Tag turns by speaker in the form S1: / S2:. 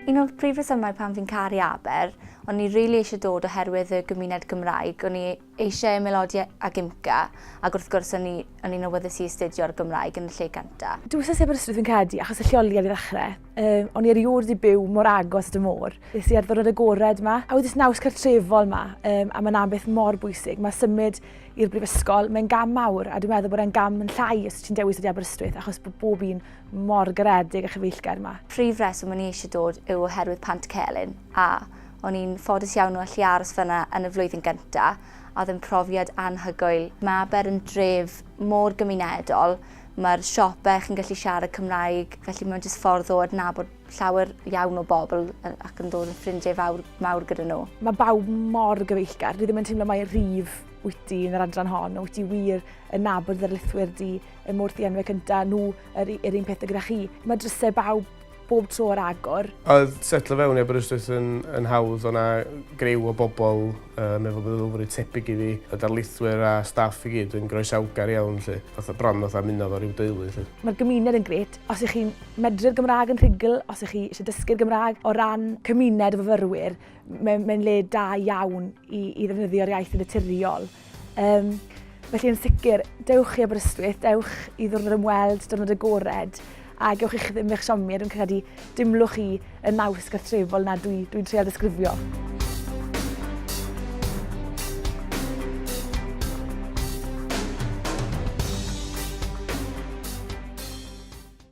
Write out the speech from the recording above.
S1: Un o'r prif resymau pam fi'n caru Aber, o'n i rili eisiau dod oherwydd y gymuned Gymraeg, o'n i eisiau ymaelodi ag IMCA ac wrth gwrs o'n i o'n i'n awyddus i astudio'r Gymraeg yn y lle gynta. Dwi wsos i Aberystwyth fi'n
S2: credu achos y lleoliad i ddechrau. Yy o'n i erioed wedi byw mor agos at y môr. Nes i ar ddiwrnod agored ma, a wedi naws cartrefol ma, um, a mae'n ambeth mor bwysig. Mae symud i'r brifysgol, mae'n gam mawr a dwi'n meddwl bod e'n gam yn llai os ti'n dewis wedi Aberystwyth achos bod bob un mor garedig a chyfeillgar ma. Prif reswm o'n i eisiau
S1: dod yw oherwydd Pant Celyn, a o'n i'n ffodus iawn o allu aros fan'na yn y flwyddyn gynta', a oedd yn profiad anhygoel. Mae Aber yn dref mor gymunedol, mae'r siope chi'n gallu siarad Cymraeg, felly mae'n jyst ffordd o adnabod llawer iawn o bobl ac yn dod yn ffrindiau fawr, mawr gyda nhw. Mae bawb mor
S2: gyfeillgar, dwi ddim yn teimlo mai rhif wyt ti yn yr adran hon, wyt ti wir yn nabod dy ddarlithwyr di, y mor ddianweg gyda nhw yr, yr un pethau gyda chi. Mae drysau bawb bob tro ar agor. Oedd setlo fewn
S3: i Aberystwyth yn, yn hawdd, o'na grew o bobl uh, mewn meddylfryd tebyg i fi, y darlithwyr a staff i gyd yn groesawgar iawn, lle, fatha bron fatha muno fo rhyw deulu. Lle. Mae'r gymuned yn gret.
S2: Os ych chi'n medru'r Gymraeg yn rhugl, os ych chi eisiau dysgu'r Gymraeg, o ran cymuned o fyfyrwyr, mae'n mae le da iawn i, i ddefnyddio'r iaith yn naturiol. Um, felly yn sicr, dewch i Aberystwyth, dewch i ddwrnod ymweld, dwrnod agored, a gewch eich ddim eich siomi, a dwi'n credu dimlwch chi y naws gartrefol na dwi'n dwi, dwi treol ddisgrifio.